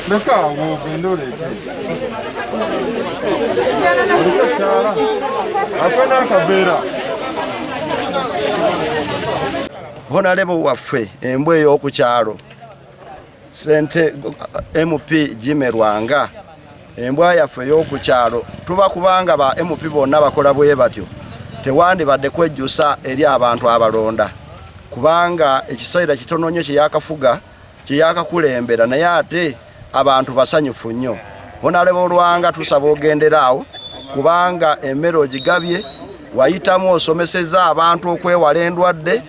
Leka awo ogende oleete. Oliko ekyala? Ate n'akaveera. honalebo waffe embwa ey'oku kyalo sente mp jime lwanga embwa yaffe ey'oku kyalo tuba kubanga ba mp bonna bakola bwe batyo tewandibadde kwejjusa eri abantu abalonda kubanga ekiseera kitono nnyo kyeyakafuga kyeyakakulembera naye ate abantu basanyufu nnyo honalebo olwanga tusaba ogenderaawo kubanga emmere ogigabye wayitamu osomeseza abantu okwewala endwadde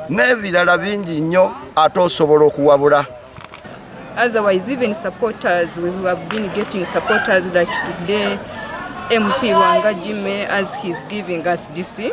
n'ebirala bingi nnyo ate osobola okuwabula otherwise even supporters we have been getting supporters like today mp wanga jime as he's giving us dc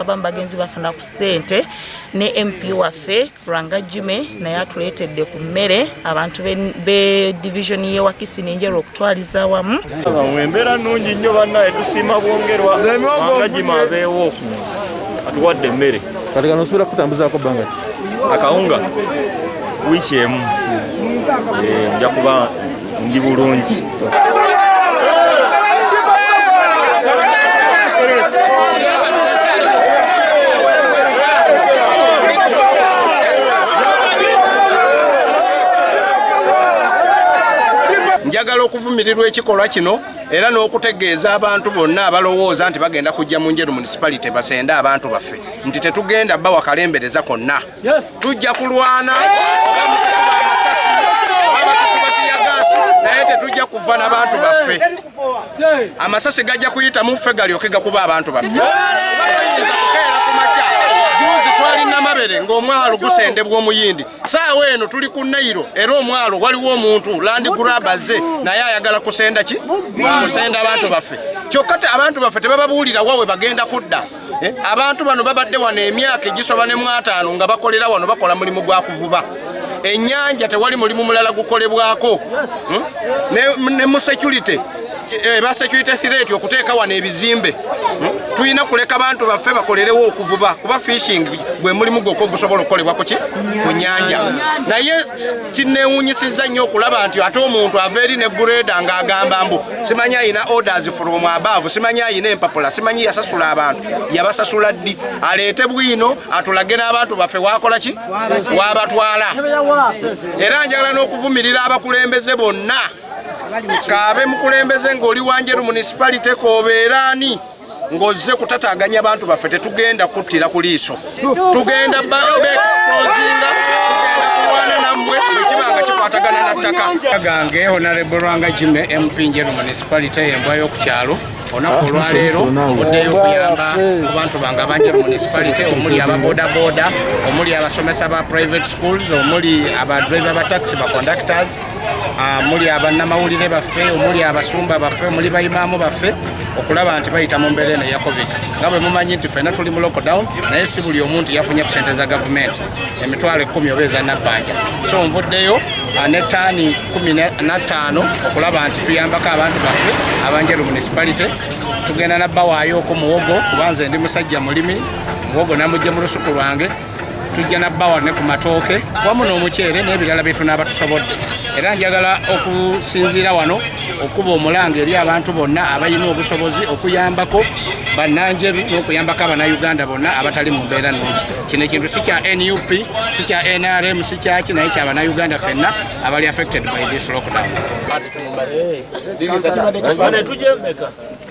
abamu bagenzi bafuna ku ssente ne mp waffe lwanga jime naye atuleetedde ku mmere abantu be division ye wakisi nenjeru okutwaliza wamu embeera nnungi nnyo bannaye tusiima bwongerwa lwanga jime abeewo atuwadde emmere kati kano osuubira kutambuzaako bbanga ki akawunga wiiki emu eh, nja kuba Ndi bulungi. njagala okuvumirirwa ekikolwa kino era n'okutegeeza abantu bonna abalowooza nti bagenda kujja mu njeru municipality basende abantu baffe nti tetugenda bawa kalembereza konna tujja kulwana naye tetujja kuva na bantu baffe amasasi gajja kuyita muffe galyoke gakuba abantu baffe twalina mabere ng'omwalo gusendebwa omuyindi saawa eno tuli ku nairo era omwalo waliwo omuntu landi gurabaze naye ayagala kusenda ki kusenda abantu baffe kyokka abantu baffe tebababuulira wawe bagenda kudda Eh, abantu bano babadde wano emyaka egisoba ne mwataano nga bakolera wano bakola mulimu gwa kuvuba ennyanja tewali mulimu mulala gukolebwako hmm? ne mu security eh, ba security threat okuteeka wano ebizimbe hmm? tulina kuleka bantu baffe bakolerewo okuvuba kuba fishing gwe mulimu gwokwo gusobola okukolebwa kuki ku nyanja naye kinewunyisiza nnyo okulaba nti ate omuntu ava eri ne gureda ng'agamba mbu simanyi ayina orders from above simanyi ayina empapula simanyi yasasula abantu yabasasula ddi aleete bwino atulage n'abantu baffe wakola ki wabatwala era njagala n'okuvumirira abakulembeze bonna kaabe mukulembeze ng'oli wanjeru municipality koobeeraani ng'ozze kutataganya bantu baffe tetugenda kuttira ku liiso tugenda beexposinga tugenda kulwana nammwe bwekiba nga kikwatagana na ttaka gange honarebo lwanga jime mp njeru municipality embwa y'oku kyalo olunaku olwaleero ovuddeyo okuyamba ku bantu bange abanja mu municipality omuli ababodaboda omuli abasomesa ba private schools omuli abadriver ba taxi ba conductors Ah, muli abannamawulire baffe omuli abasumba baffe omuli bayimaamu baffe okulaba nti bayita mu mbeera eno eya covid nga bwe mumanyi nti fena tuli mu lockdown naye si buli omu nti yafunye ku sente za gavumenti emitwalo ekkumi oba eza nabbanja so nvuddeyo ah, ne taani kumi nattaano okulaba nti tuyambako abantu baffe abanjeru municipality tugenda nabbawaayo oku muwogo kubanze ndi musajja mulimi muwogo namujje mu lusuku lwange tujja nabbawa ne ku matooke wamu n'omuceere n'ebirala bye tunaaba tusobodde era njagala okusinziira wano okuba omulanga eri abantu bonna abalina obusobozi okuyambako bannanjeru n'okuyambako abanauganda bonna abatali mu mbeera nungi kino ekintu si kya nup si kya nrm si kyaki naye kya banauganda fenna abali affected by this lockdown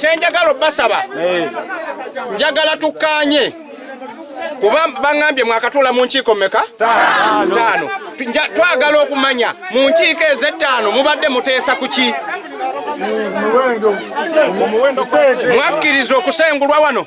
kyenjagala obasaba njagala tukkaanye kuba baŋambye mwakatuula mu nkiiko meka taano twagala okumanya mu nkiiko ezettaano mubadde muteesa ku ki mwakkiriza okusengulwa wano